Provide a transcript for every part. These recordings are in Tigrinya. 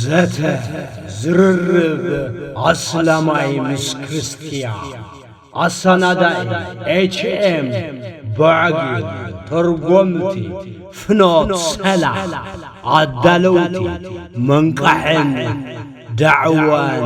ዘተ ዝርርብ ኣስላማይ ምስ ክርስትያ ኣሳናዳኢ ኤችኤም ባዕጊ ተርጎምቲ ፍኖት ሰላም ኣዳለውቲ መንቃሕን ዳዕዋን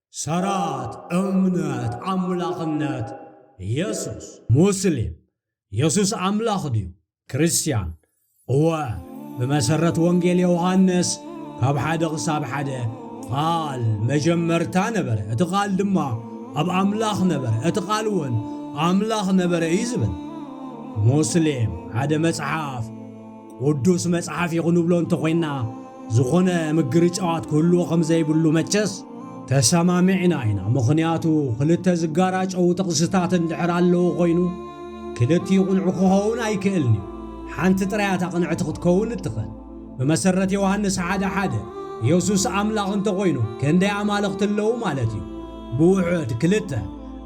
ሰራት እምነት ኣምላኽነት የሱስ። ሙስሊም፣ የሱስ ኣምላኽ ድዩ? ክርስትያን፣ እወ፣ ብመሰረት ወንጌል ዮሃንስ ካብ ሓደ ክሳብ ሓደ ቓል መጀመርታ ነበረ፣ እቲ ቓል ድማ ኣብ ኣምላኽ ነበረ፣ እቲ ቓል እውን ኣምላኽ ነበረ እዩ ዝብል። ሙስሊም፣ ሓደ መጽሓፍ ቅዱስ መጽሓፍ እዩ ክንብሎ እንተ ኾይንና ዝኾነ ምግርጫዋት ክህልዎ ከም ዘይብሉ መቸስ ተሰማሚዕና ኢና። ምኽንያቱ ክልተ ዝጋራጨዉ ጥቕስታት እንድሕር ኣለዉ ኮይኑ ክልቲኡ ቅንዑ ክኸውን ኣይክእልን እዩ። ሓንቲ ጥራይ እታ ቅንዕቲ ክትከውን እትኽእል። ብመሰረት ዮሃንስ ሓደ ሓደ የሱስ ኣምላኽ እንተ ኾይኑ ክንደይ ኣማልኽቲ ኣለዉ ማለት እዩ? ብውሑድ ክልተ።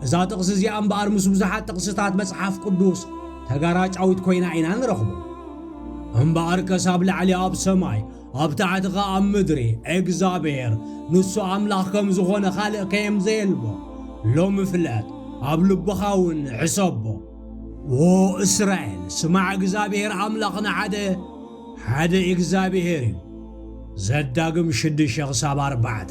እዛ ጥቕሲ እዚኣ እምበኣር ምስ ብዙሓት ጥቕስታት መጽሓፍ ቅዱስ ተጋራጫዊት ኮይና ኢና ንረኽቦ። እምበኣር ከስ ኣብ ላዕሊ ኣብ ሰማይ ኣብ ታሕቲ ከኣ ኣብ ምድሪ እግዝኣብሄር ንሱ ኣምላኽ ከም ዝኾነ ካልእ ከየም ዘየልቦ ሎሚ ፍለጥ ኣብ ልብኻ እውን ሕሰቦ። ዎ እስራኤል ስማዕ እግዝኣብሄር ኣምላኽና ሓደ። ሓደ ኢግዛብሄር እዩ ዘዳግም ሽድሸ ክሳብ ኣርባዕተ።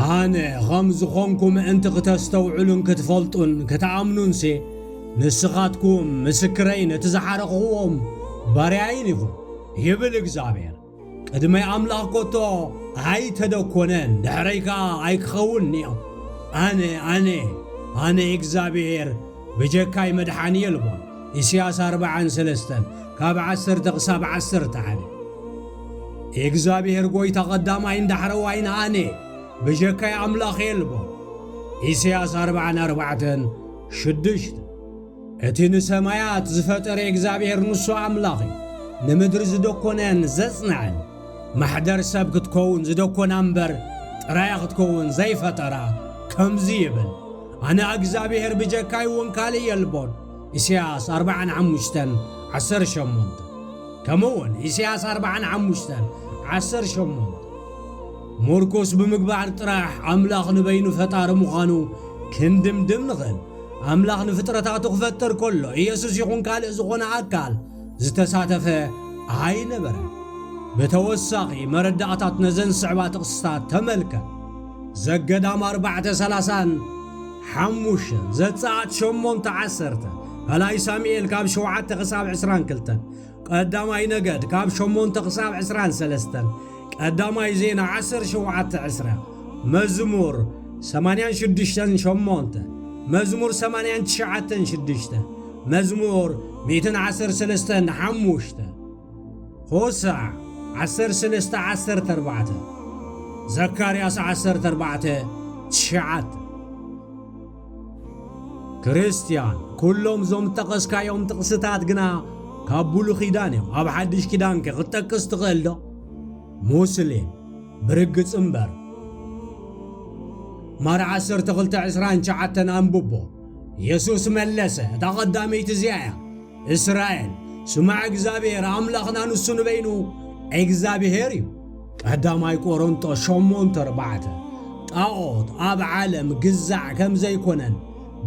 ኣነ ኸም ዝኾንኩ ምእንቲ ክተስተውዕሉን ክትፈልጡን ክትኣምኑንሴ ንስኻትኩም ምስክረይን እቲ ዝሓረኽኹዎም ባርያይን ኢኹም ይብል እግዚኣብሄር። ቅድሚ ኣምላኽ ኮቶ ኣይተደኮነን ድሕረይ ከኣ ኣይክኸውንንዮ ኣነ ኣነ ኣነ እግዚኣብሔር ብጀካይ መድሓኒ የልቦን ኢስያስ ኣርብዓን ሰለስተን ካብ ዓሰርተ ክሳብ ዓሰርተ ሓደ እግዚኣብሔር ጎይታ ቐዳማይን ዳሕረዋይን ኣነ ብጀካይ ኣምላኽ የልቦን ኢስያስ ኣርብዓን ኣርባዕተን ሽዱሽተ እቲ ንሰማያት ዝፈጠረ እግዚኣብሔር ንሱ ኣምላኽ እዩ። ንምድሪ ዝደኮነን ዘጽንዐን ማሕደር ሰብ ክትከውን ዝደኮና እምበር ጥራያ ክትከውን ዘይፈጠራ ከምዚ ይብል ኣነ እግዚኣብሔር ብጀካይ እውን ካልእ የልቦን ኢሳያስ 45 18 ከምኡውን ኢሳያስ 45 18 ምርኩስ ብምግባር ጥራሕ ኣምላኽ ንበይኑ ፈጣሪ ምዃኑ ክንድምድም ንኽእል ኣምላኽ ንፍጥረታቱ ክፈጥር ከሎ ኢየሱስ ይኹን ካልእ ዝኾነ ኣካል ዝተሳተፈ ኣይነበረን። ብተወሳኺ መረዳእታት ነዘን ዝስዕባ ጥቕስታት ተመልከት። ዘገዳም ኣርባዕተ ሰላሳን ሓሙሽተን ዘጸኣት ሸሞንተ ዓሰርተ ካልኣይ ሳሙኤል ካብ ሸውዓተ ክሳብ ዕስራን ክልተን ቀዳማይ ነገድ ካብ ሸሞንተ ክሳብ ዕስራን ሰለስተን ቀዳማይ ዜና ዓሰር ሸውዓተ ዕስራ መዝሙር ሰማንያን ሽዱሽተን ሸሞንተ መዝሙር ሰማንያን ትሽዓተን ሽዱሽተ መዝሙር ሚእትን ዓሰር ሰለስተን ሓሙሽተ ሆሳዕ ዓሰር ሰለስተ ዓሰርተ ኣርባዕተ ዘካርያስ ዓሰርተ ኣርባዕተ ትሽዓተ ክርስትያን ኩሎም እዞም ዝጠቐስካዮም ጥቕስታት ግና ካብ ብሉ ኪዳን እዮም ኣብ ሓድሽ ኪዳንከ ክትጠቅስ ትኽእል ዶ ሙስሊም ብርግጽ እምበር ማር 1229 ኣንብቦ የሱስ መለሰ እታ ቐዳመይቲ እዚኣ እያ እስራኤል ስማዕ እግዚኣብሔር ኣምላኽና ንሱ ንበይኑ እግዚኣብሔር እዩ ቀዳማይ ቆሮንጦስ ሸሞንተ ኣርባዕተ ጣዖት ኣብ ዓለም ግዛዕ ከም ዘይኮነን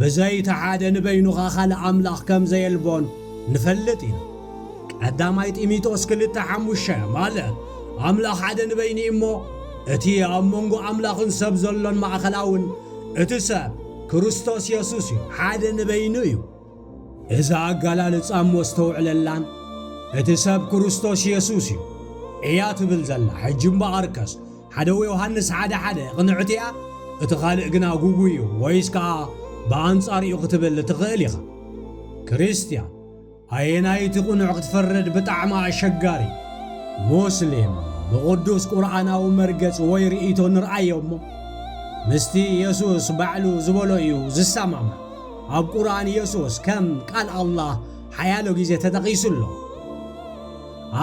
ብዘይቲ ሓደ ንበይኑኻ ካልእ ኣምላኽ ከም ዘየልቦን ንፈልጥ ኢና። ቀዳማይ ጢሚጦስ ክልተ ሓሙሽተ ማለት ኣምላኽ ሓደ ንበይኑ እሞ እቲ ኣብ መንጎ ኣምላኽን ሰብ ዘሎን ማእኸላውን እቲ ሰብ ክርስቶስ የሱስ እዩ፣ ሓደ ንበይኑ እዩ። እዛ ኣገላልጻ እሞ ኣስተውዕለላን እቲ ሰብ ክርስቶስ የሱስ እዩ እያ ትብል ዘላ ሕጂ እምበኣርከስ ሓደ ዮሃንስ ሓደ ሓደ ቅንዕቲ እያ እቲ ካልእ ግና ጉጉይ እዩ ወይስ ከኣ ብኣንጻር እዩ ክትብል ትኽእል ኢኻ ክርስትያን ኣየናይ እቲ ቅኑዕ ክትፈርድ ብጣዕሚ ኣሸጋሪ ሙስሊም ብቕዱስ ቁርኣናዊ መርገጽ ወይ ርእይቶ ንርኣዮ እሞ ምስቲ የሱስ ባዕሉ ዝበሎ እዩ ዝሰማማዕ ኣብ ቁርኣን የሱስ ከም ቃል ኣላህ ሓያሎ ግዜ ተጠቒሱ ኣሎ።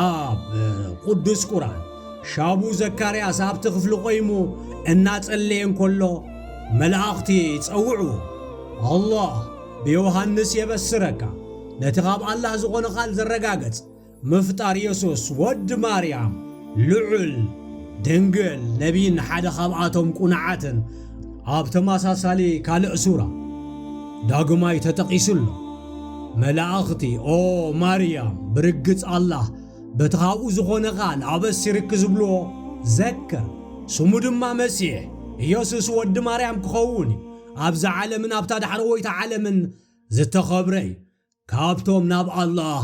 ኣብ ቁዱስ ቁርኣን፣ ሻቡ ዘካርያስ ኣብቲ ክፍሊ ቆይሙ እናጸለየ እንከሎ መላእኽቲ ጸውዕዎ፣ ኣላህ ብዮሃንስ የበስረካ፣ ነቲ ካብ ኣላህ ዝኾነ ቃል ዘረጋገጽ ምፍጣር የሱስ ወዲ ማርያም ልዑል፣ ድንግል፣ ነቢይን ሓደ ካብኣቶም ቁኑዓትን ኣብ ተመሳሳሊ ካልእ ሱራ ዳግማይ ተጠቒሱ ኣሎ። መላእኽቲ ኦ ማርያም ብርግጽ ኣላህ በቲ ካብኡ ዝኾነ ቃል ኣበሲርኪ ዝብልዎ ዘክር ስሙ ድማ መሲሕ ኢየሱስ ወዲ ማርያም ክኸውን እዩ ኣብዛ ዓለምን ኣብታ ዳሕረወይቲ ዓለምን ዝተኸብረ እዩ ካብቶም ናብ ኣላህ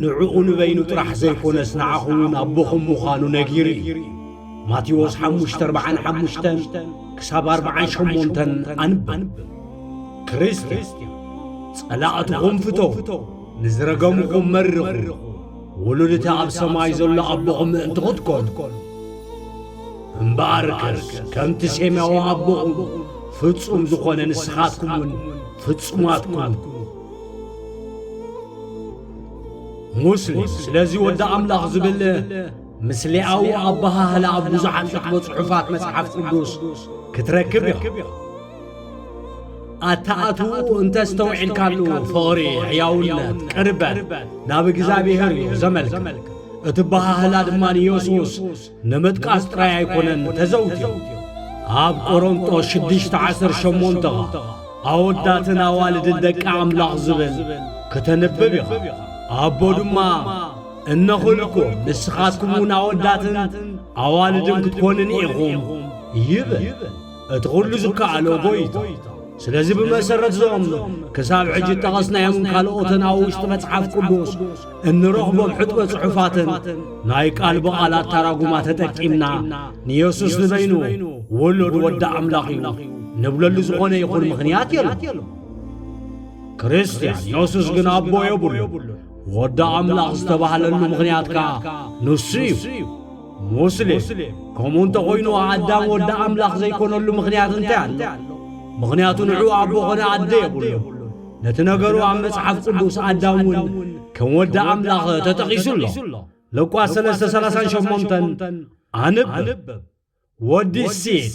ንዕኡ ንበይኑ ጥራሕ ዘይኮነስ ንዓኹም እውን ኣቦኹም ምዃኑ ነጊሩ እዩ። ማቴዎስ ሓሙሽተ ኣርብዓን ሓሙሽተን ክሳብ ኣርብዓን ሸሞንተን ኣንብብ። ክርስትያን ጸላእትኹም ፍተዉ፣ ንዝረገምኹም መርቑ፣ ውሉድ እቲ ኣብ ሰማይ ዘሎ ኣቦኹም ምእንቲ ኽትኰኑ እምበኣርከስ ከምቲ ሴማዊ ኣቦኹም ፍጹም ዝኾነ ንስኻትኩም እውን ፍጹማት ኩኑ። ሙስሊም ስለዚ ወዲ ኣምላኽ ዝብል ምስሌኣዊ ኣበሃህላ ኣብ ብዙሓት ሕትሞ ጽሑፋት መጽሓፍ ቅዱስ ክትረክብ ኢኻ። ኣተኣትውኡ እንተ ኣስተውዒልካሉ ፍቕሪ ሕያውነት ቅርበት ናብ እግዚኣብሔር እዩ ዘመልክት እቲ በሃህላ ድማ ንየሱስ ንምጥቃስ ጥራይ ኣይኮነን ተዘውትዩ ኣብ ቆሮንጦስ ሽዱሽተ ዓሰርተ ሸሞንተ ኣወዳትን ኣዋልድን ደቂ ኣምላኽ ዝብል ከተንብብ ኢኻ ኣቦ ድማ እነኹልኩ ንስኻትኩም እውን ኣወዳትን ኣዋልድን ክትኮንን ኢኹም ይብል እቲ ዅሉ ዝከኣሎ ጐይታ። ስለዚ ብመሰረት እዞም ክሳብ ሕጂ እጠቐስናዮምን ካልኦትን ኣብ ውሽጢ መጽሓፍ ቅዱስ እንረኽቦም ሕጥበ ጽሑፋትን ናይ ቃል ብቓል ኣታራጉማ ተጠቂምና ንየሱስ ንበይኑ ውሉድ ወዲ ኣምላኽ እዩ ንብለሉ ዝኾነ ይኹን ምኽንያት የለን። ክርስትያን የሱስ ግን ኣቦ የብሉ ወዲ ኣምላኽ ዝተባህለሉ ምኽንያት ከኣ ንሱ እዩ። ሙስሊም ከምኡ እንተ ኾይኑ ኣዳም ወዲ ኣምላኽ ዘይኮነሉ ምኽንያት እንታይ ኣሎ? ምኽንያቱ ንዑ ኣቦ ኾነ ኣደ የብሉን። ነቲ ነገሩ ኣብ መጽሓፍ ቅዱስ ኣዳም እውን ከም ወዲ ኣምላኽ ተጠቒሱ ኣሎ። ሉቃስ ሰለስተ ሰላሳን ሸሞንተን ኣንብብ። ወዲ ሴት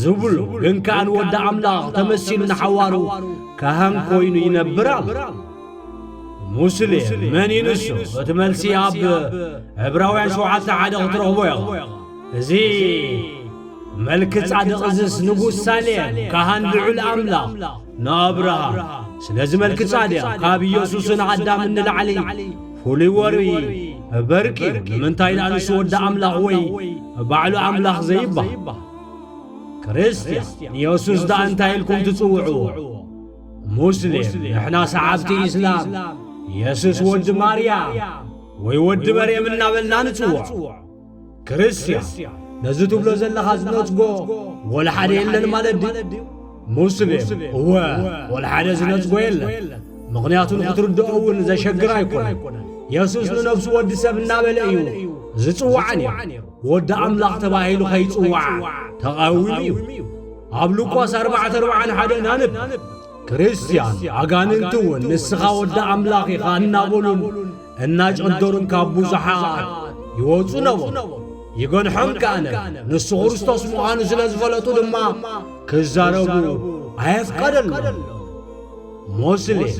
ዝብሉ ግን ከኣ ንወዲ ኣምላኽ ተመሲሉ ንሓዋሩ ካህን ኮይኑ ይነብር ኣሎ ሙስሌ መን እዩ ንሱ እቲ መልሲ ኣብ ዕብራውያን ሸውዓተ ሓደ ክትረኽቦ ኢኻ እዚ መልኪ ጻድቕ እዝስ ንጉስ ሳሌም ካህን ልዑል ኣምላኽ ንኣብርሃም ስለዚ መልኪ ጻድቕ ካብ ኢየሱስን ኣዳምን ንላዕሊ ፍሉይ ወርይ በርቂ ንምንታይ ደኣ ንሱ ወዲ ኣምላኽ ወይ ባዕሉ ኣምላኽ ዘይብሃል ክርስትያን ንየሱስ ደኣ እንታይ ኢልኩም ትጽውዕዎ? ሙስሊም ንሕና ሰዓብቲ ኢስላም የሱስ ወዲ ማርያም ወይ ወዲ መርየም እናበልና ንጽውዖ። ክርስትያን ነዚ ትብሎ ዘለኻ ዝነጽጎ ወላ ሓደ የለን ማለት ድዩ? ሙስሊም እወ ወልሓደ ዝነጽጎ የለን ምኽንያቱ ንኽትርድኦ እውን ዘሸግር ኣይኮነን የሱስ ንነፍሱ ወዲ ሰብ እናበለ እዩ ዝጽዋዓ ነይሩ ወዲ ኣምላኽ ተባሂሉ ኸይጽዋዓ ተቓዊሙ እዩ ኣብ ሉቃስ 441 ናንብ ክርስትያን ኣጋንንቲ እውን ንስኻ ወዲ ኣምላኽ ኢኻ እናበሉን እናጨንደሩን ካብ ብዙሓት ይወፁ ነበሩ ይገንሖም ከኣ ነብ ንሱ ክርስቶስ ምዃኑ ስለ ዝፈለጡ ድማ ክዛረቡ ኣየፍቀደሎም ሞስሌም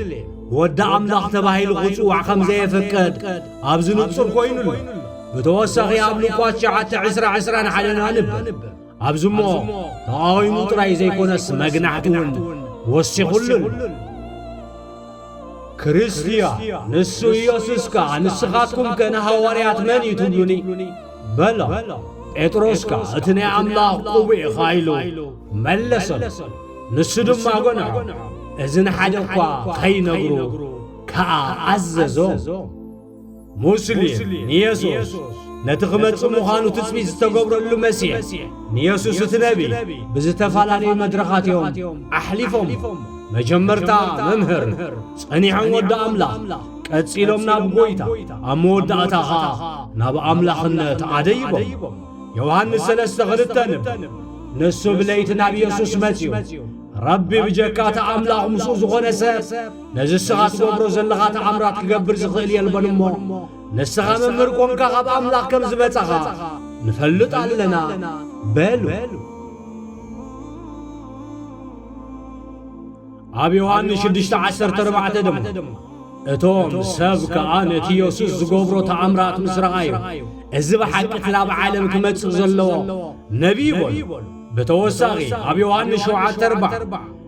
ወዲ ኣምላኽ ተባሂሉ ኽጽዋዕ ኸም ዘየፍቅድ ኣብዚ ንጹር ኮይኑ ኣሎ ብተወሳኺ ኣብ ሉቃስ ሸዓተ ዕስራ ዕስራን ሓደን ኣንብብ ኣብዚ እሞ ተቓዊሙ ጥራይ ዘይኰነስ መግናሕቲ እውን ወሲኹሉ ኣሎ ክርስትያን ንሱ ኢየሱስ ከኣ ንስኻትኩም ከ ንሃዋርያት መን እዩ ትብሉኒ በሎ ጴጥሮስ ከኣ እቲ ናይ ኣምላኽ ቁቡ ኢኻ ኢሉ መለሰሉ ንሱ ድማ ጐንዖ እዚ ንሓደ እኳ ኸይነግሩ ከኣ ኣዘዞም ሙስሊም ንየሱስ ነቲ ክመጽእ ምዃኑ ትጽቢት ዝተገብረሉ መሲሕ ንየሱስ እቲ ነቢ ብዝተፈላለዩ መድረኻት እዮም ኣሕሊፎም መጀመርታ መምህር ጸኒሖም ወዲ ኣምላኽ ቀጺሎም ናብ ጐይታ ኣብ መወዳእታ ኸኣ ናብ ኣምላኽነት ኣደይቦም ዮሃንስ ሰለስተ ኽልተ ንብ ንሱ ብለይቲ ናብ የሱስ መጺኡ ረቢ ብጀካ እቲ ኣምላኽ ምስኡ ዝኾነ ሰብ ነዚ እስኻ ትገብሮ ዘለኻ ተኣምራት ክገብር ዝኽእል የልቦን እሞ ንስኻ መምህር ኮንካ ካብ ኣምላኽ ከም ዝመጻኻ ንፈልጥ ኣለና በሉ። ኣብ ዮሃንስ ሽዱሽተ ዓሰርተ ኣርባዕተ ድማ እቶም ሰብ ከኣ ነቲ የሱስ ዝገብሮ ተኣምራት ምስ ረኣዩ እዚ ብሓቂ እቲ ናብ ዓለም ክመጽእ ዘለዎ ነቢይ በሉ ብተወሳኺ ኣብ ዮሃንስ ሸውዓተ ኣርባዕ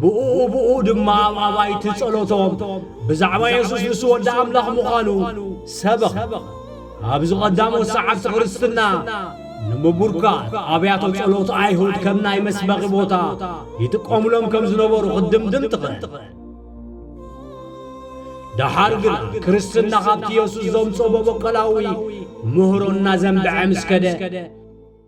ብእኡ ብእኡ ድማ ኣብ ኣባይቲ ጸሎቶም ብዛዕባ የሱስ ንሱ ወዲ ኣምላኽ ምዃኑ ሰበኸ። ኣብዚ ቀዳሞት ሰዓብቲ ክርስትና ንምቡርካት ኣብያተ ጸሎት ኣይሁድ ከም ናይ መስበኺ ቦታ ይጥቀሙሎም ከም ዝነበሩ ክትድምድም ትኽእል። ደሓር ግና ክርስትና ካብቲ የሱስ ዘምጾ በበቆላዊ ምህሮ እናዘንበዐ ምስ ከደ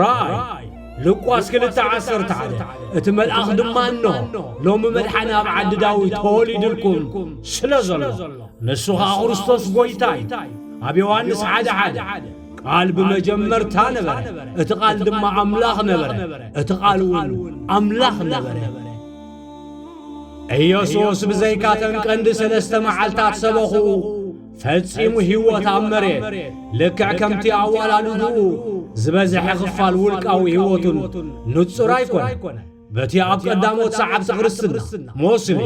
ራእይ ልቋስ ክልተ ዓሰርተ ሓደ እቲ መልኣኽ ድማ እኖ ሎሚ መድሓኒ ኣብ ዓዲ ዳዊት ተወሊዱልኩም ስለ ዘሎ ንሱ ኸዓ ክርስቶስ ጐይታ እዩ ኣብ ዮሃንስ ሓደ ሓደ ቃል ብመጀመርታ ነበረ እቲ ቃል ድማ ኣምላኽ ነበረ እቲ ቃል እውን ኣምላኽ ነበረ ኢየሱስ ብዘይካተን ቀንዲ ሰለስተ መዓልታት ሰበኹ ፈጺሙ ህይወት ኣብ መሬት ልክዕ ከምቲ ኣዋላልድኡ ዝበዝሐ ኽፋል ውልቃዊ ህይወቱን ንጹር ኣይኮነ በቲ ኣብ ቀዳሞት ሰዓብቲ ክርስትና ሞስሊም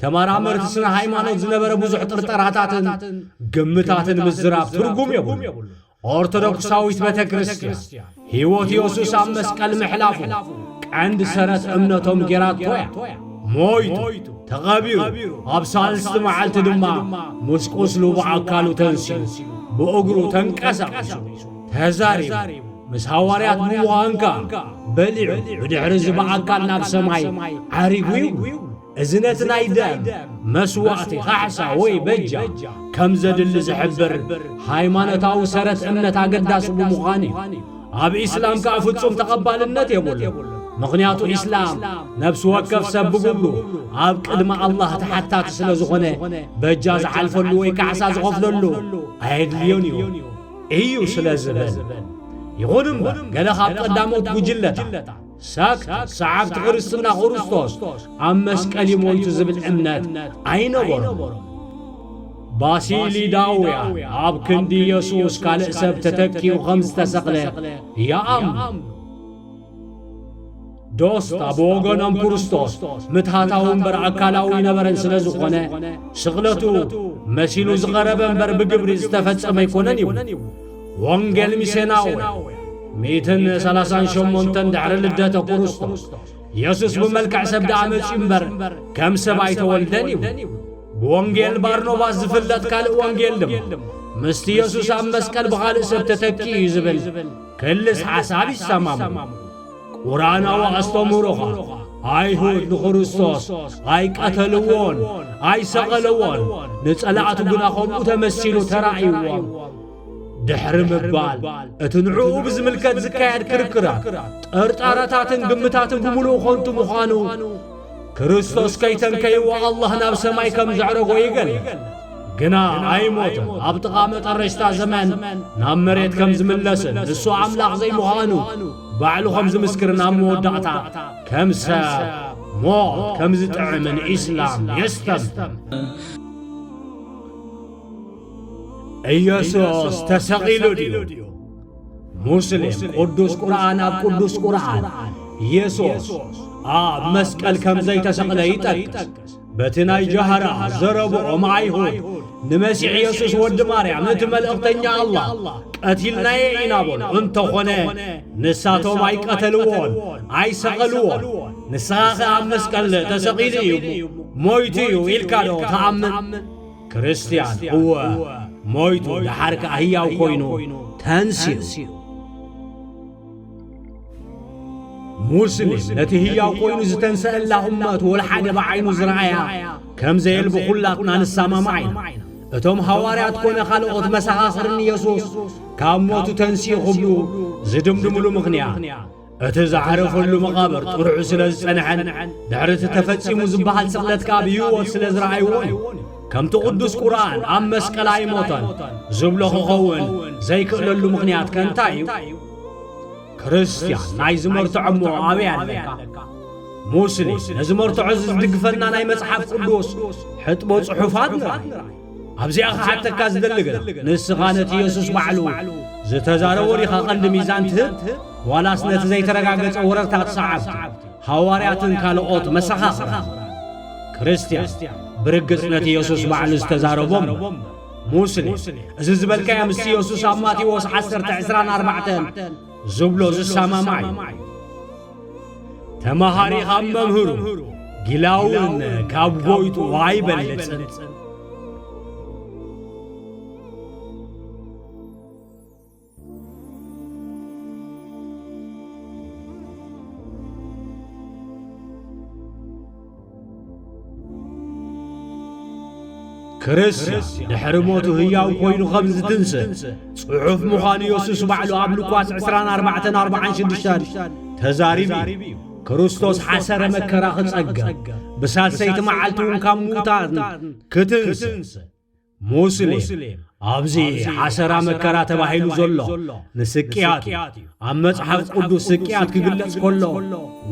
ተመራመርቲ ስነ ሃይማኖት ዝነበረ ብዙሕ ጥርጠራታትን ግምታትን ምዝራብ ትርጉም የብሉ ኦርቶዶክሳዊት ቤተ ክርስቲያን ሕይወት ኢየሱስ ኣብ መስቀል ምሕላፉ ቀንዲ ሰረት እምነቶም ጌራቶ እያ ሞይቱ ተቐቢሩ ኣብ ሳልስቲ መዓልቲ ድማ ምስ ቁስሉ ብኣካሉ ተንሲኡ ብእግሩ ተንቀሳቒሱ ተዛሪቡ ምስ ሃዋርያት ብምዃንካ በሊዑ ብድሕሪ እዚ ብኣካል ናብ ሰማይ ዓሪጉ ይብሉ እዚ ነቲ ናይ ደም መስዋእቲ፣ ካሕሳ ወይ በጃ፣ ከም ዘድሊ ዝሕብር ሃይማኖታዊ ሰረት እምነት ኣገዳሲ ብምዃኑ እዩ። ኣብ ኢስላም ከኣ ፍጹም ተቐባልነት የብሉን፣ ምኽንያቱ ኢስላም ነብሲ ወከፍ ሰብ ብግብሩ ኣብ ቅድሚ ኣላህ ተሓታቲ ስለ ዝኾነ በጃ ዝሓልፈሉ ወይ ካሕሳ ዝኸፍለሉ ኣየድልዮን እዩ እዩ ስለ ዝብል። ይኹን እምበር ገለ ካብ ቀዳሞት ጉጅለታት ሳክት ሰዓብቲ ክርስትና ክርስቶስ ኣብ መስቀል እዩ ሞይቱ ዝብል እምነት ኣይነበሮም። ባሲሊዳውያን ኣብ ክንዲ ኢየሱስ ካልእ ሰብ ተተኪኡ ኸም ዝተሰቕለ ይኣምኑ። ዶስታ ብወገኖም ክርስቶስ ምትሃታዊ እምበር ኣካላዊ ነበረን ስለ ዝኾነ ስቕለቱ መሲሉ ዝቐረበ እምበር ብግብሪ ዝተፈጸመ ኣይኮነን ይብሉ። ወንጌል ሚሴናውያን ሚእትን ሰላሳን ሸሞንተን ድሕሪ ልደተ ክርስቶስ የሱስ ብመልክዕ ሰብ ደኣ መጺኡ እምበር ከም ሰብ ኣይተወልደን ይብሉ። ብወንጌል ባርኖባስ ዝፍለጥ ካልእ ወንጌል ድማ ምስቲ የሱስ ኣብ መስቀል ብኻልእ ሰብ ተተኪኡ እዩ ዝብል ክልስ ሓሳብ ይሰማምዑ። ቁርኣናዊ ኣስተምህሮ ኸኣ ኣይሁድ ንክርስቶስ ኣይቀተልዎን ኣይሰቐለዎን፣ ንጸላእቱ ግና ከምኡ ተመሲሉ ተራእይዎም ድሕሪ ምባል እቲ ንዕኡ ብዝምልከት ዝካየድ ክርክራት ጠርጣራታትን ግምታትን ብምሉእ ኾንቱ ምዃኑ ክርስቶስ ከይተንከይዎ ኣላህ ናብ ሰማይ ከም ዘዕረጎ ይገልጽ ግና ኣይሞትን ኣብ ጥቓ መጠረሽታ ዘመን ናብ መሬት ከም ዝምለስን ንሱ ኣምላኽ ዘይምዃኑ ባዕሉ ከም ዝምስክርን ኣብ መወዳእታ ከም ሰብ ሞት ከም ዝጥዕምን ኢስላም የስተምር ኢየሱስ ተሰቒሉ ድዩ? ሙስሊም ቅዱስ ቁርኣን ኣብ ቅዱስ ቁርኣን ኢየሱስ ኣብ መስቀል ከም ዘይተሰቕለ ይጠቅስ። በቲ ናይ ጃህራ ዘረብኦም ኣይሁድ ንመሲሕ ኢየሱስ ወዲ ማርያም እቲ መልእኽተኛ ኣላህ ቀቲልናየ ኢና በሉ። እንተኾነ ንሳቶም ኣይቀተልዎን ኣይሰቐልዎን። ንስኻ ኸ ኣብ መስቀል ተሰቒሉ እዩ ሞይቱ እዩ ኢልካ ዶ ትኣምን? ክርስትያን እወ ሞይቱ ደሓር ከኣ ህያው ኮይኑ ተንሲኡ ሙስሊም ነቲ ህያው ኮይኑ ዝተንሰአላ እመት ወልሓደ ብዓይኑ ዝረኣያ ከም ዘየልቢ ዅላትና ንሰማማዕ ኢና እቶም ሃዋርያት ኮነ ካልኦት መሰኻኽርን ኢየሱስ ካብ ሞቱ ተንስኡ ኽብሉ ዝድምድምሉ ምኽንያት እቲ ዝዓረፈሉ መቓብር ጥርዑ ስለ ዝጸንሐን ድሕሪ እቲ ተፈጺሙ ዝበሃል ስቕለት ከኣ ብህይወት ስለ ዝረኣይዎን እዩ ከምቲ ቅዱስ ቁርኣን ኣብ መስቀል ኣይሞተን ዝብሎ ክኸውን ዘይክእለሉ ምኽንያት ከ እንታይ እዩ ክርስትያን ናይ ዝመርትዖ እሞ ኣበይ ኣለካ ሙስሊም ነዚ መርትዖ እዚ ዝድግፈና ናይ መጽሓፍ ቅዱስ ሕጥቦ ጽሑፋት ንርኢ ኣብዚኣ ክሓተካ ዝደሊ ግን ንስኻ ነቲ የሱስ ባዕሉ ዝተዛረቦ ዲኻ ቀንዲ ሚዛን ትህብ ዋላስ ነቲ ዘይተረጋገጸ ወረርታት ሰዓብቲ ሃዋርያትን ካልኦት መሰኻኽራን? ክርስትያን ብርግጽ ነቲ የሱስ ባዕሉ ዝተዛረቦ እሞ ሙስሊም እዚ ዝበልካዮ ምስቲ የሱስ ኣብ ማቴዎስ ዓሰርተ ዕስራን ኣርባዕተን ዝብሎ ዝሰማማዕ እዩ። ተመሃሪ ካብ መምህሩ ጊላውን ካብ ጎይቱ ኣይበልጽን። ክርስትያን ድሕሪ ሞቱ ህያው ኮይኑ ኸም ዝትንስእ ጽሑፍ ምዃኑ የሱስ ባዕሉ ኣብ ሉቃስ 24:46 ተዛሪቡ እዩ ክርስቶስ ሓሰረ መከራ ኽጸገም ብሳሰይቲ መዓልቲ እውን ካብ ምዉታትን ክትንስእ ሙስሊም ኣብዚ ሓሰራ መከራ ተባሂሉ ዘሎ ንስቅያት እዩ ኣብ መጽሓፍ ቅዱስ ስቅያት ክግለጽ ከሎ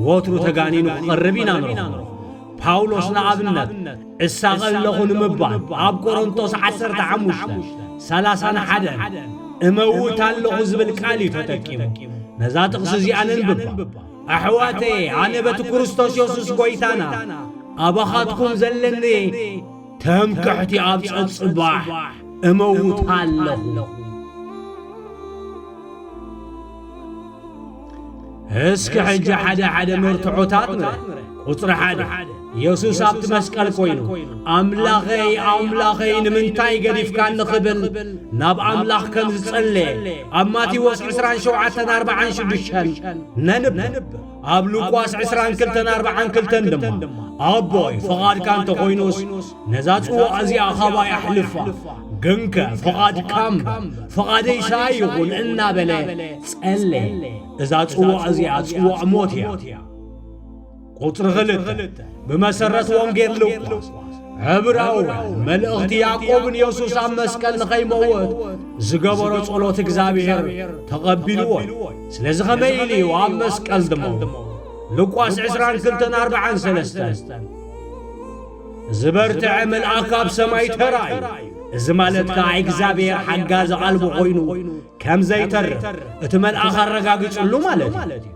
ወትሩ ተጋኒኑ ክቐርብ ኢና ንረኽቦ ጳውሎስ ንኣብነት እሳቐ ኣለኹ ንምባል ኣብ ቆሮንቶስ 15 ሰላሳን ሓደን እመውት ኣለኹ ዝብል ቃል እዩ ተጠቂሙ ነዛ ጥቕሲ እዚኣ ነንብባ ኣሕዋተየ ኣነ በቲ ክርስቶስ የሱስ ጐይታና ኣባኻትኩም ዘለኒ ትምክሕቲ ኣብ ጸጽባሕ እመውታ ኣለኹ። እስኪ ሕጂ ሓደ ሓደ መርትዖታት ንረ ቁጽሪ ሓደ የሱስ ኣብቲ መስቀል ኮይኑ ኣምላኸይ ኣምላኸይ ንምንታይ ገዲፍካኒ ክብል ናብ ኣምላኽ ከም ዝጸለየ ኣብ ማቴዎስ 27 46 ነንብብ ኣብ ሉቃስ ዕስራን ክልተን ኣርብዓን ክልተን ድማ ኣቦይ ፍቓድካ እንተኾይኑስ ነዛ ጽዋእ እዚኣ ኻባይ ኣሕልፋ ግንከ ፍቓድካ እምበር ፍቓደይስ ኣይኹን እናበለ ጸለየ እዛ ጽዋእ እዚኣ ጽዋእ ሞት እያ ቁጽሪ ኽልተ ብመሰረት ወንጌል ሉቃስ ዕብራውያን መልእኽቲ ያዕቆብን የሱስ ኣብ መስቀል ንኸይመወት ዝገበሮ ጸሎት እግዚኣብሔር ተቐቢልዎ እዩ ስለዚ ከመይ ኢሉ እዩ ኣብ መስቀል ድሞ ሉቃስ ዕስራን ክልተን ኣርብዓን ሰለስተን ዝበርትዐ መልኣክ ኣብ ሰማይ ተራእዩ እዚ ማለት ከዓ እግዚኣብሔር ሓጋዚ ኣልቦ ኮይኑ ከም ዘይተርፍ እቲ መልኣኽ ኣረጋጊጽሉ ማለት እዩ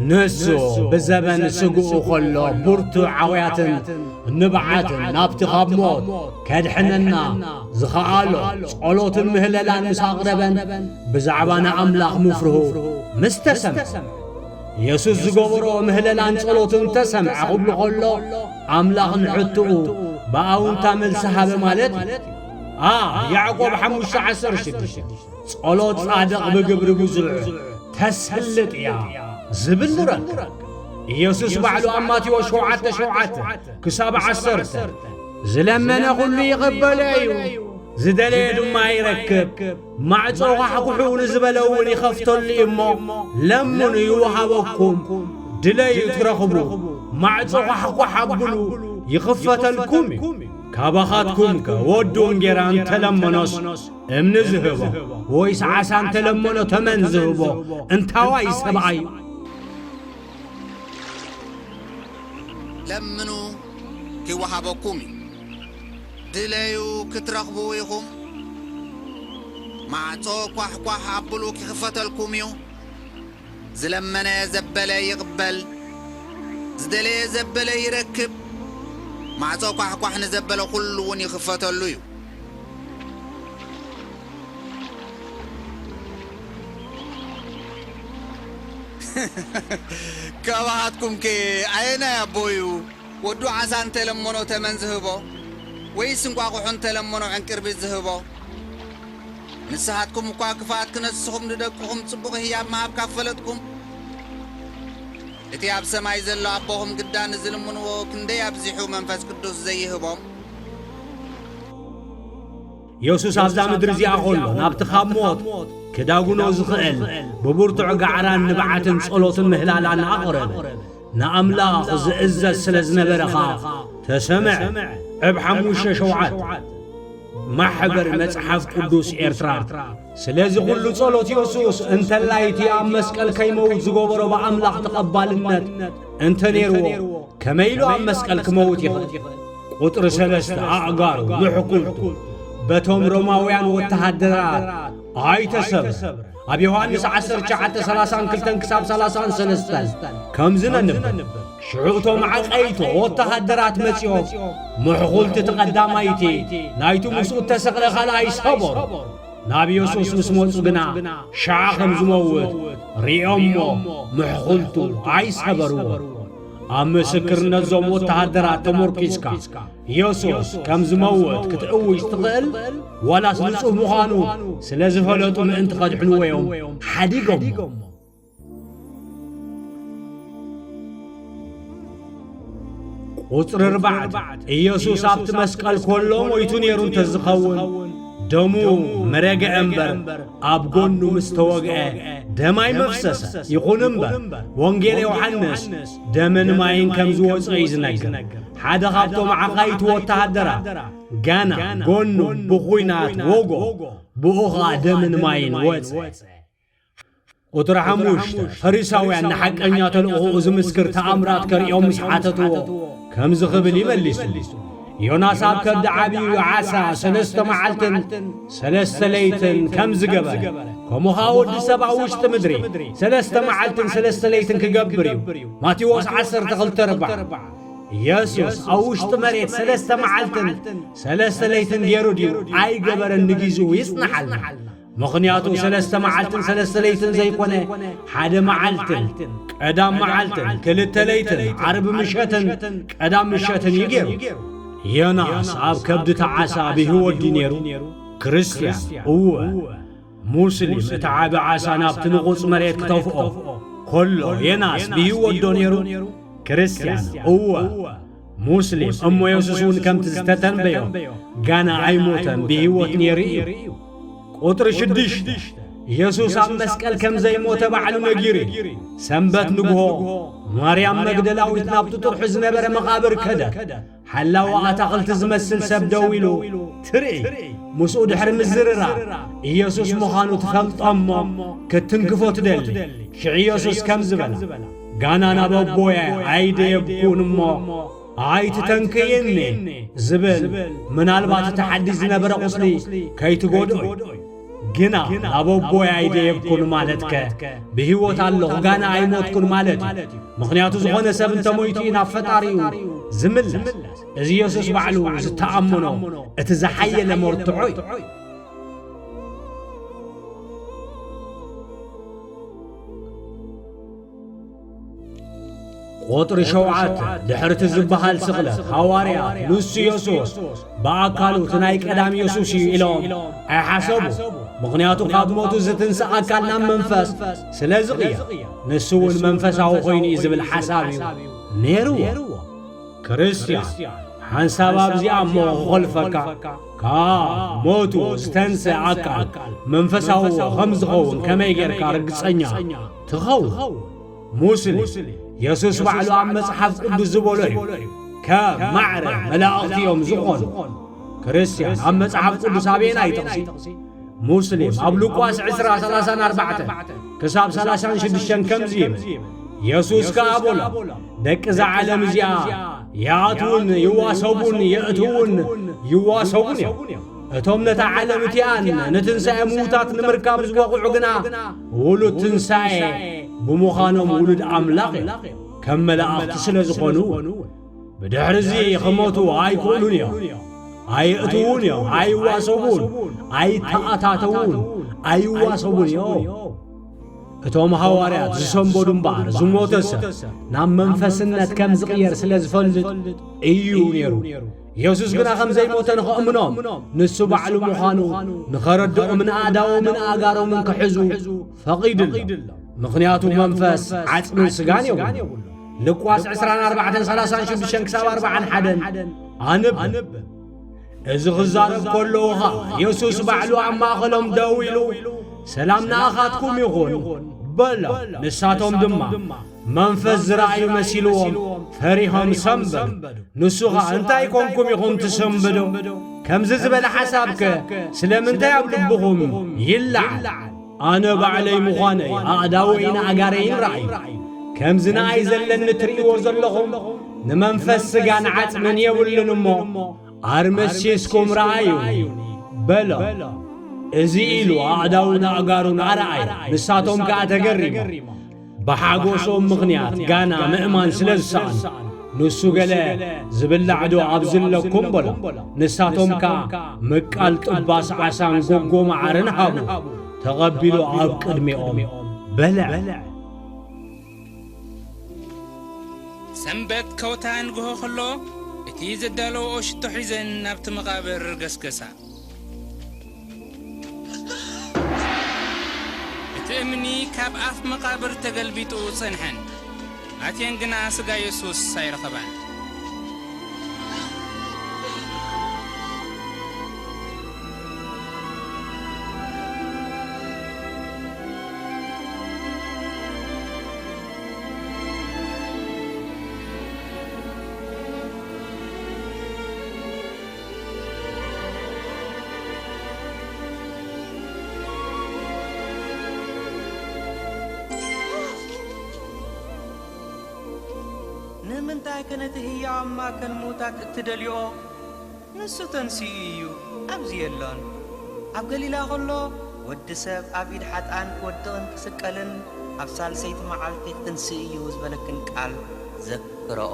ንሱ ብዘበን ስግኡ ኸሎ ብርቱዕ ዓውያትን ንብዓትን ናብቲ ኻብ ሞት ከድሕነና ዝኸኣሎ ጸሎትን ምህለላን ምስ ኣቕረበን ብዛዕባ ንኣምላኽ ምፍርሁ ምስ ተሰምዐ የሱስ ዝገበሮ ምህለላን ጸሎትን ተሰምዐ ኽብሉ ኸሎ ኣምላኽ ንሕትኡ ብኣውንታ መልሲ ሃበ ማለት እዩ a Yacob Hamusha Asar Shibisha. ጸሎት ጻድቕ ብግብሪ ብዙሕ ተስልጥ እያ ዝብል ንረክብ። ኢየሱስ ባዕሉ ኣብ ማቴዎስ ሸውዓተ ሸውዓተ ክሳብ ዓሰርተ ዝለመነ ዅሉ ይቕበሎ እዩ፣ ዝደለየ ድማ ይረክብ፣ ማዕጾ ዃሕኵሑ ንዝበለ እውን ይኸፍተሉ እዩ እሞ፣ ለምኑ ይውሃበኩም፣ ድለዩ ትረኽቡ፣ ማዕጾ ዃሕኳሕ ኣብሉ ይኽፈተልኩም እዩ። ካባኻትኩምከ ወዱ እንጌራ እንተ ለመኖስ እምኒ ዝህቦ ወይስ ዓሳ እንተ ለመኖ ተመን ዝህቦ እንታዋይ ሰብኣይ እዩ? ለምኑ ኪወሃበኩም እዩ፣ ድለዩ ክትረኽቡ ኢኹም፣ ማዕጾ ኳሕኳሕ ኣብሉ ኪኽፈተልኩም እዩ። ዝለመነ ዘበለ ይቕበል፣ ዝደለየ ዘበለ ይረክብ፣ ማዕጾ ኳሕኳሕ ንዘበለ ኹሉውን ይኽፈተሉ እዩ። ካባኻትኩምከ ኣየናይ ኣቦ እዩ ወዱ ዓሳ እንተ ለመኖ ተመን ዚህቦ? ወይስ እንቋቝሖ እንተ ለመኖ ዕንቅርቢት ዚህቦ? ንስኻትኩም እኳ ክፉኣት ክነስኹም ንደቅኹም ጽቡቕ ህያብ ምሃብ ካብ ፈለጥኩም፣ እቲ ኣብ ሰማይ ዘሎ ኣቦኹም ግዳ ንዝልምንዎ ክንደይ ኣብዚሑ መንፈስ ቅዱስ ዘይህቦም? የሱስ ኣብዛ ምድሪ እዚኣ ኸሎ ናብቲ ኻብ ሞት ክዳጕኖ ዝኽእል ብብርቱዕ ጋዕራን ንብዓትን ጸሎትን ምህላላን ኣቕረበ። ንኣምላኽ ዝእዘዝ ስለ ዝነበረ ኸኣ ተሰምዐ። ዕብ ሓሙሽተ ሸውዓተ፣ ማሕበር መጽሓፍ ቅዱስ ኤርትራ። ስለዚ ኹሉ ጸሎት የሱስ እንተላይ እቲ ኣብ መስቀል ከይመውት ዝገበሮ ብኣምላኽ ተቐባልነት እንተ ነይርዎ ከመይ ኢሉ ኣብ መስቀል ክመውት ይኽእል? ቁጥሪ ሰለስተ ኣእጋሩ ምሕኩልቱ በቶም ሮማውያን ወተሃደራት ኣይተሰብረ ኣብ ዮሃንስ 1932 ክሳብ 33 ከምዚ ነንብብ ሽዑ እቶም ዓቀይቶ ወተሃደራት መጺኦም ምሕኹልቲ እቲ ቀዳማይቲ ናይቲ ምስኡ እተሰቕለ ኻልኣይ ሰበሩ። ናብ የሱስ ምስ መጹ ግና ሽዓ ኸም ዝመውት ርእዮም እሞ ምሕኹልቱ ኣይሰበርዎን። ኣብ ምስክርነት እዞም ወተሃደራት ተመርኲስካ የሱስ ከም ዝመውት ክትእውጅ ትኽእል? ዋላስ ንጹህ ምዃኑ ስለ ዝፈለጡ ምእንቲ ኸድሕንዎ እዮም ሓዲጎሞ? ቁጽሪ ኣርባዕተ ኢየሱስ ኣብቲ መስቀል ኮሎ ሞይቱ ነይሩ እንተዝኸውን ደሙ መረግዐ እምበር ኣብ ጎኑ ምስ ተወግዐ ደም ኣይመፍሰሰ። ይኹን እምበር ወንጌል ዮሐንስ ደምን ማይን ከም ዝወጾ እዩ ዝነግር። ሓደ ካብቶም ዓኻይቲ ወተሃደራት ገና ጎኑ ብኹናት ወጎ ብኡ ኸኣ ደምን ማይን ወጸ። ቁፅሪ ሓሙሽተ፣ ፈሪሳውያን ንሓቀኛ ተልእኾኡ ዝምስክር ተኣምራት ከርእዮም ምስ ሓተትዎ ከምዚ ክብል እዩ መሊሱ፣ ዮናስ ኣብ ከብዲ ዓብዩ ዓሳ ሰለስተ መዓልትን ሰለስተ ለይትን ከም ዝገበረ ከምኡ ኸኣ ወዲ ሰብ ኣብ ውሽጢ ምድሪ ሰለስተ መዓልትን ሰለስተ ለይትን ክገብር እዩ። ማቴዎስ ዓሰርተ ክልተ ኣርባዓ ኢየሱስ ኣብ ውሽጢ መሬት ሰለስተ መዓልትን ሰለስተ ለይትን ገይሩ ድዩ ኣይገበረን ንጊዜኡ ይጽናሓልና። ምኽንያቱ ሰለስተ መዓልትን ሰለስተ ለይትን ዘይኮነ ሓደ መዓልትን ቀዳም መዓልትን ክልተ ለይትን ዓርቢ ምሸትን ቀዳም ምሸትን እዩ ገይሩ ዮናስ ኣብ ከብዲ ተዓሳ ብህይወት ድዩ ነይሩ ክርስትያን እወ ሙስሊም እቲ ዓቢ ዓሳ ናብቲ ንቑጽ መሬት ክተፍኦ ኮሎ ዮናስ ብህይወት ዶ ነይሩ ክርስትያን እወ ሙስሊም እሞ የሱስ እውን ከምቲ ዝተተንበዮ ገና ኣይሞተን ብህይወት ነይሩ እዩ ቁጥሪ ሽዱሽተ የሱስ ኣብ መስቀል ከም ዘይሞተ ባዕሉ ነጊሩ እዩ ሰንበት ንግሆ ማርያም መግደላዊት ናብቲ ጥርሑ ዝነበረ መቓብር ከደት ሓላዊ ኣታኽልቲ ዝመስል ሰብ ደው ኢሉ ትርኢ ምስኡ ድሕሪ ምዝርራ ኢየሱስ ምዃኑ ትፈልጦ እሞ ክትትንክፎ ትደሊ ሽዕ ኢየሱስ ከም ዝበላ ጋና ናብ ኣቦየ ኣይደ የብኩን እሞ ኣይትተንክይኒ ዝብል ምናልባት እቲ ሓዲስ ዝነበረ ቁስሊ ከይትጎድኦ እዩ ግና ናብ ኣቦየ ኣይደ የብኩን ማለትከ ብህይወት ኣለኹ ጋና ኣይሞትኩን ማለት እዩ ምኽንያቱ ዝኾነ ሰብ እንተሞይቱ እዩ ናብ ፈጣሪኡ ዝምለስ እዚ የሱስ ባዕሉ ዝተኣምኖ እቲ ዝሓየለ መርትዖ እዩ ቁጥሪ ሸውዓተ ድሕርቲ ዝበሃል ስቕለት ሃዋርያት ንሱ የሱስ ብኣካሉ እቲ ናይ ቀዳም የሱስ እዩ ኢሎም ኣይሓሰቡ ምኽንያቱ ካብ ሞቱ ዝትንስ ኣካል ናብ መንፈስ ስለ ዝቕየ ንሱ እውን መንፈሳዊ ኮይኑ እዩ ዝብል ሓሳብ እዩ ነይርዎ ክርስትያን ሓንሳብ ኣብዚኣ እሞ ክኾልፈካ ካብ ሞቱ ዝተንስእ ኣካል መንፈሳዊ ኸም ዝኸውን ከመይ ጌርካ ርግጸኛ ትኸውን? ሙስሊም የሱስ ባዕሉ ኣብ መጽሓፍ ቅዱስ ዝበሎ እዩ፣ ከም ማዕረ መላእኽቲ እዮም ዝዀኑ። ክርስትያን ኣብ መጽሓፍ ቅዱስ ኣበየናይ ጥቕሲ? ሙስሊም ኣብ ሉቃስ ዕስራ ሰላሳን ኣርባዕተን ክሳብ ሰላሳን ሽዱሽተን ከምዚ ይብል የሱስ ከኣ በሎም ደቂ እዛ ዓለም እዚኣ ይኣትዉን ይዋሰቡን የእትዉን ይዋሰቡን እዮም እቶም ነታ ዓለም እቲኣን ንትንሣኤ ምዉታት ንምርካብ ዝበቑዑ ግና ውሉድ ትንሣኤ ብምዃኖም ውሉድ ኣምላኽ እዮም ከም መላእኽቲ ስለ ዝኾኑ ብድሕርዚ ኽሞቱ ኣይክእሉን እዮም ኣይእትዉን እዮም ኣይዋሰቡን ኣይተኣታተዉን ኣይዋሰቡን እዮም እቶም ሃዋርያት ዝሰንበዱ እምበኣር ዝሞተ ሰብ ናብ መንፈስነት ከም ዝቕየር ስለ ዝፈልጥ እዩ ነይሩ ኢየሱስ ግና ኸም ዘይሞተ ንኸእምኖም ንሱ ባዕሉ ምዃኑ ንኸረድኦም ንኣዳዎምን ኣጋሮምን ክሕዙ ፈቒድሎም ምኽንያቱ መንፈስ ዓጽምን ስጋን የብሉ ልቋስ ዕስራን ኣርባዕተን ሰላሳን ሽዱሽተን ክሳብ ኣርባዓን ሓደን ኣንብብ እዚ ኽዛረብ ከለዉ ኸኣ የሱስ ባዕሉ ኣብ ማእኸሎም ደው ኢሉ ሰላም ንኣኻትኩም ይኹን በሎ ንሳቶም ድማ መንፈስ ዝረኣዩ መሲልዎም ፈሪሆም ሰምበዱ ንሱ ኸኣ እንታይ ኮንኩም ኢኹም ትሰምብዱ ከምዚ ዝበለ ሓሳብከ ስለምንታይ ኣብ ልብኹም ይለዓል ኣነ ባዕለይ ምዃነይ ኣእዳወይን ኣእጋረይን ረኣዩ። ከምዚ ንኣይ ዘለኒ ትርእይዎ ዘለኹም ንመንፈስ ስጋን ዓጽምን የብሉን እሞ ኣር መሲስኩም ረኣዩኒ በሎም። እዚ ኢሉ ኣእዳዉን ኣእጋሩን ኣርኣየ፣ ንሳቶም ከኣ ተገሪሞም። ብሓጎሶም ምኽንያት ጋና ምእማን ስለ ዝሰኣኑ ንሱ ገለ ዝብላዕዶ ኣብዚ ኣለኩም በሎ ንሳቶም ከኣ ምቃል ጥባስ ዓሳን ጎጎ መዓርን ሃቡ ተቐቢሉ ኣብ ቅድሚኦም በልዐ ሰንበት ከውታ ንግሆ ኸሎ እቲ ዘዳለወኦ ሽቶ ሒዘን ናብቲ መቓብር ገስገሳ እቲ እምኒ ካብ ኣፍ መቓብር ተገልቢጡ ጸንሐን ኣትየን ግና ስጋ የሱስ ኣይረኸባን። ንምንታይከ ነቲ ህያው ኣብ ማእከል ምዉታት እትደልይኦ? ንሱ ተንሲኡ እዩ፣ ኣብዚ የሎን። ኣብ ገሊላ ኸሎ፣ ወዲ ሰብ ኣብ ኢድ ሓጥኣን ክወድቕን ክስቀልን ኣብ ሳልሰይቲ መዓልቲ ኽትንስእ እዩ ዝበለክን ቃል ዘክርኦ።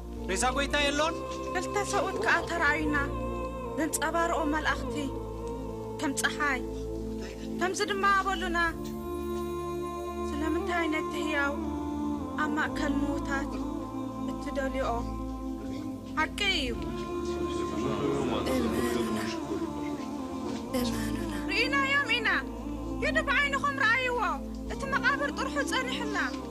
ሬሳ ጐይታ የሎን? ክልተ ሰብኡት ከኣ ተራእዩና፣ ዘንጸባርቑ መላእኽቲ፣ ከም ጸሓይ። ከምዚ ድማ በሉና፣ ስለምንታይ ነቲ ህያው ኣብ ማእከል ምዉታት እትደልዩኦ? ሓቂ እዩ። እመኑና። ርኢናዮም ኢና። ኪዱ ብዓይንኹም ረኣይዎ፣ እቲ መቓብር ጥርሑ ጸኒሑና።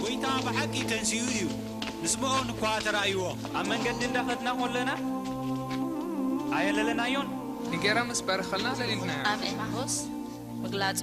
ጐይታ ብሓቂ ተንሲኡ እዩ፣ ንስምኦን እኳ ተራእይዎ። ኣብ መንገዲ እንዳ ኸድና ኾለና ኣየለለናዮን። ንጌራ ምስ ባረኸልና ለሊልናዮ። ኣብ ኤማሁስ ምግላጹ።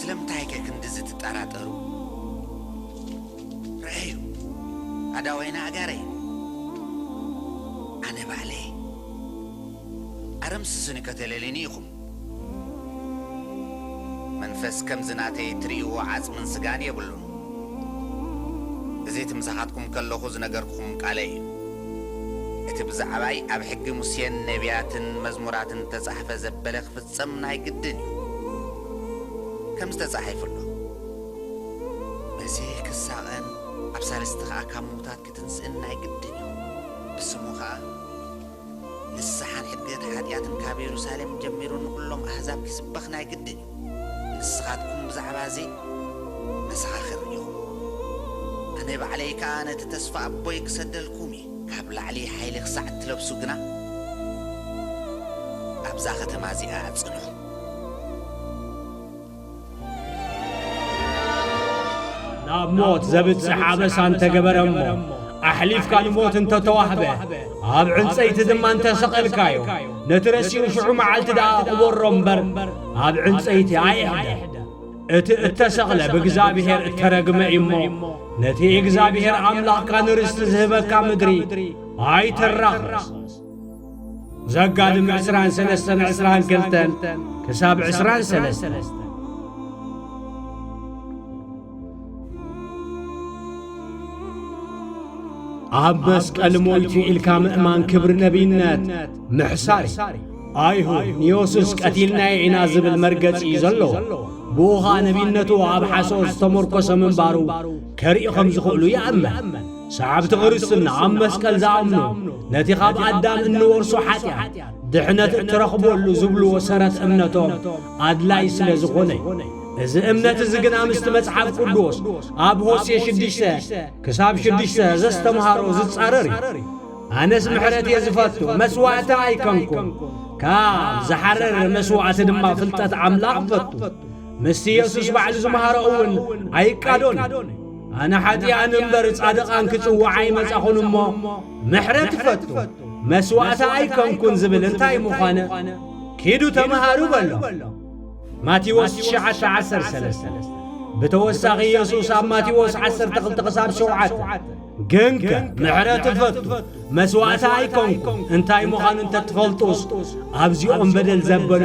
ስለምንታይከ ክንድዚ ትጠራጠሩ? ርኣዩ፣ ኣእዳወይን ኣእጋረይን ኣነ ባዕለይ ኣረምስሱኒ ከተለልዩኒ ኢኹም። መንፈስ ከምዚ ናተይ እትርእይዎ ዓጽምን ስጋን የብሉን። እዚ እቲ ምሳኻትኩም ከለኹ ዝነገርኩኹም ቃለይ እዩ። እቲ ብዛዕባይ ኣብ ሕጊ ሙሴን ነብያትን መዝሙራትን እተጻሕፈ ዘበለ ክፍጸም ናይ ግድን እዩ። ከምዚ ተጻሒፉ ኣሎ። በዚ ክሳቐን ኣብ ሳልስቲ ኸኣ ካብ ምዉታት ክትንስእን ናይ ግድን እዩ። ብስሙ ኸኣ ንስሓን ሕድገት ሓጢኣትን ካብ የሩሳሌም ጀሚሩ ንዅሎም ኣህዛብ ኪስበኽ ናይ ግድን እዩ። ንስኻትኩም ብዛዕባ እዚ መሰኻኽር ኢኹም። ኣነ ባዕለይ ከኣ ነቲ ተስፋ ኣቦይ ክሰደልኩም እየ። ካብ ላዕሊ ሓይሊ ክሳዕ እትለብሱ ግና፣ ኣብዛ ኸተማ እዚኣ ጽንሑ። ናብ ሞት ዘብጽሕ ኣበሳ እንተ ገበረ እሞ፣ ኣሕሊፍካ ንሞት እንተ ተዋህበ፣ ኣብ ዕንጸይቲ ድማ እንተ ሰቐልካዮ፣ ነቲ ረሲኡ ሽዑ መዓልቲ ደኣ ቕበሮ እምበር ኣብ ዕንጸይቲ ኣይሕደር። እቲ እተሰቕለ ብእግዚኣብሄር እተረግመ እዩ እሞ፣ ነቲ እግዚኣብሄር ኣምላኽካ ንርስቲ ዝህበካ ምድሪ ኣይተራኽስ። ዘጋድም ዕስራን ሰለስተን ዕስራን ክልተን ክሳብ ዕስራን ሰለስተን። ኣብ መስቀል ሞይቱ ኢልካ ምእማን ክብሪ ነቢይነት ምሕሳር ኣይሁድ ንዮሱስ ቀቲልናዮ ኢና ዝብል መርገጺ እዩ ዘለዎ ብኡ ኸኣ ነቢይነቱ ኣብ ሓሶት ዝተመርኮሰ ምንባሩ ከርኢ ኸም ዝኽእሉ ይኣመን ሰዓብቲ ክርስትና ኣብ መስቀል ዝኣምኑ ነቲ ኻብ ኣዳም እንወርሶ ሓጢኣት ድሕነት እትረኽበሉ ዝብልዎ ሰረት እምነቶም ኣድላዪ ስለ ዝኾነ እዩ። እዚ እምነት እዚ ግና ምስቲ መጽሓፍ ቅዱስ ኣብ ሆሴ ሽዱሽተ ክሳብ ሽዱሽተ ዘስተምሃሮ ዝጻረር እዩ። ኣነስ ምሕረት እየ ዝፈቱ፣ መስዋእቲ ኣይከንኩን፣ ካብ ዝሓረር መስዋእቲ ድማ ፍልጠት ኣምላኽ ፈቱ። ምስቲ የሱስ ባዕሉ ዝመሃሮ እውን ኣይቃዶን እዩ። ኣነ ሓጢኣን እምበር ጻድቓን ክጽዋዕ ኣይመጻኹን እሞ ምሕረት ፈቱ፣ መስዋእቲ ኣይከንኩን ዝብል እንታይ ምዃነ ኪዱ ተምሃሩ በሎም። ማቴዎስ ትሽዓተ ዓሰርተ ሰለስተ ብተወሳኺ ኢየሱስ ኣብ ማቴዎስ ዓሰርተ ክልተ ክሳብ ሸውዓተ ግንከ ምሕረት እፈቱ መስዋእቲ ኣይኮንኩ እንታይ ምዃኑ እንተትፈልጡስ ኣብዚኦም በደል ዘበለ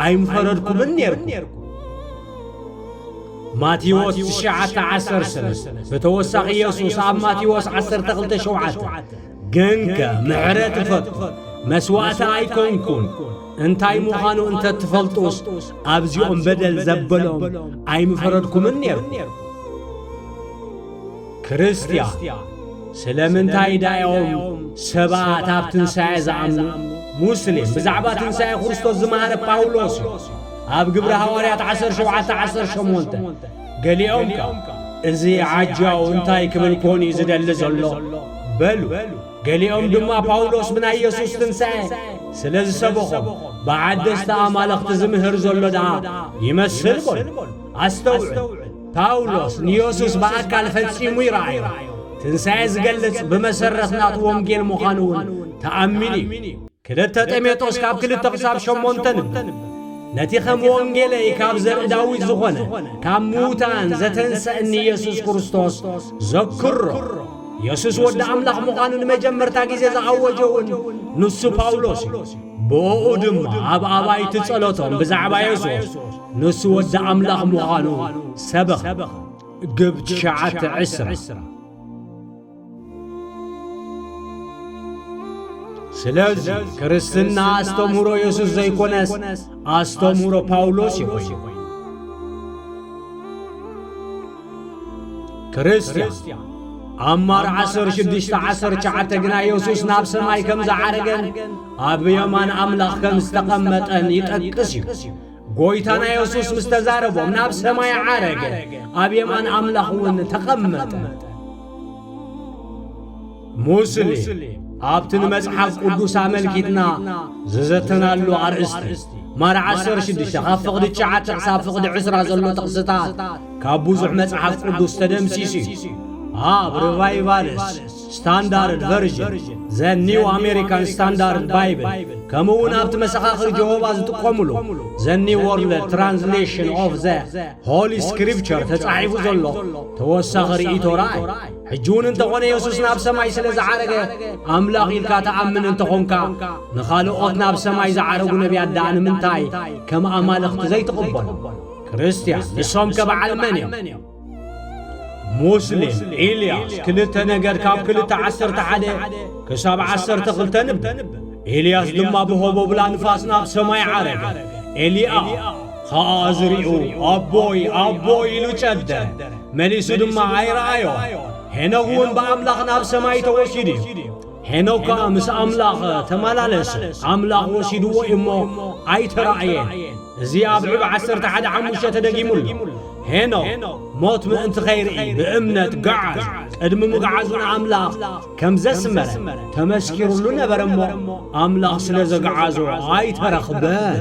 ኣይምፈረድኩምን ነርኩ ማቴዎስ ትሽዓተ ዓሰርተ ሰለስተ ብተወሳኺ ኢየሱስ ኣብ ማቴዎስ ዓሰርተ ክልተ ሸውዓተ ግንከ ምሕረት እፈቱ መስዋእቲ ኣይኮንኩን እንታይ ምዃኑ እንተ ትፈልጡስ ኣብዚኦም በደል ዘበሎም ኣይምፈረድኩምን ነይርኩ ክርስትያ ስለምንታይ ዳዮም ሰባት ኣብ ትንሣኤ ዝኣምኑ ሙስሊም ብዛዕባ ትንሣኤ ክርስቶስ ዝመሃረ ጳውሎስ እዩ ኣብ ግብሪ ሃዋርያት 1718 ገሊኦም ከኣ እዚ ዓጃው እንታይ ክብል ኰን እዩ ዝደሊ ዘሎ? በሉ። ገሊኦም ድማ ጳውሎስ ብናይ የሱስ ትንሳኤ ስለ ዝሰበኾም ብዓደስቲ ኣማልኽቲ ዝምህር ዘሎ ደኣ ይመስል በሉ። ኣስተውዕል፣ ጳውሎስ ንየሱስ ብኣካል ፈጺሙ ይረኣዮ፣ ትንሳኤ ዝገልጽ ብመሰረት ናቱ ወንጌል ምዃኑ እውን ተኣሚኑ እዩ። ክልተ ጤሜጦስ ካብ ክልተ ክሳብ ሸሞንተ ንብብ። ነቲ ከም ወንጌለይ ካብ ዘርኢ ዳዊት ዝኾነ ካብ ምዉታን ዘተንሰእኒ ኢየሱስ ክርስቶስ ዘክሮ። ኢየሱስ ወዲ ኣምላኽ ምዃኑ ንመጀመርታ ጊዜ ዝኣወጀ እውን ንሱ ጳውሎስ እዩ። ብኦኡ ድማ ኣብ ኣባይቲ ጸሎቶም ብዛዕባ የሱስ ንሱ ወዲ ኣምላኽ ምዃኑ ሰበኽ ግብ ትሽዓተ ዕስራ ስለዚ ክርስትና ኣስተምህሮ የሱስ ዘይኮነስ ኣስተምህሮ ጳውሎስ እዩ ኾይኑ ክርስትያን ኣብ ማር ዓሰር ሽዱሽተ ዓሰር ሸዓተ ግና የሱስ ናብ ሰማይ ከም ዝዓረገን ኣብ የማን ኣምላኽ ከም ዝተቐመጠን ይጠቅስ እዩ ጐይታና የሱስ ምስ ተዛረቦም ናብ ሰማይ ዓረገ፣ ኣብ የማን ኣምላኽ እውን ተቐመጠ። ሙስሊም ኣብቲ ንመጽሓፍ ቅዱስ ኣመልኪትና ዝዘተናሉ ኣርእስቲ ማር 16 ካብ ፍቕዲ 9 ክሳብ ፍቕዲ 20 ዘሎ ጥቕስታት ካብ ብዙሕ መጽሓፍ ቅዱስ ተደምሲሱ እዩ ኣብ ሪቫይቫልስ ስታንዳርድ ቨርዥን፣ ዘ ኒው ኣሜሪካን ስታንዳርድ ባይብል፣ ከምኡውን ኣብቲ መሰኻኽር ጀሆቫ ዝጥቀሙሉ ዘ ኒው ዎርልድ ትራንስሌሽን ኦቭ ዘ ሆሊ ስክሪፕቸር ተጻሒፉ ዘሎ ተወሳኺ ርእይቶ ርኣይ። ሕጂ እውን እንተ ዀነ የሱስ ናብ ሰማይ ስለ ዝዓረገ ኣምላኽ ኢልካ ትኣምን እንተ ዀንካ፣ ንኻልኦት ናብ ሰማይ ዝዓረጉ ነብያት ደኣ ንምንታይ ከም ኣማልኽቲ ዘይትቕበሎም? ክርስትያን፣ ንሶምከ በዓል መን እዮም? ሙስሊም ኢልያስ ክልተ ነገር ካብ ክልተ ዓሰርተ ሓደ ክሳብ ዓሰርተ ክልተ ንብ ኢልያስ ድማ ብሆቦብላ ንፋስ ናብ ሰማይ ዓረገ ኤልያ ኸኣ ዝርኡ ኣቦይ ኣቦይ ኢሉ ጨደ መሊሱ ድማ ኣይረኣዮ ሄኖክ እውን ብኣምላኽ ናብ ሰማይ ተወሲዱ እዩ ሄኖካ ምስ ኣምላኽ ተማላለሰ፣ ኣምላኽ ወሲድዎ እዩ እሞ ኣይተራእየን። እዚ ኣብ ዕብ ዓሰርተ ሓደ ሓሙሽተ ተደጊሙ ኣሎ። ሄኖክ ሞት ምእንቲ ኸይርኢ ብእምነት ገዓዝ ቅድሚ ምግዓዙ ንኣምላኽ ከም ዘስመረ ተመስኪሩሉ ነበረ እሞ ኣምላኽ ስለ ዘግዓዞ ኣይተረኽበን።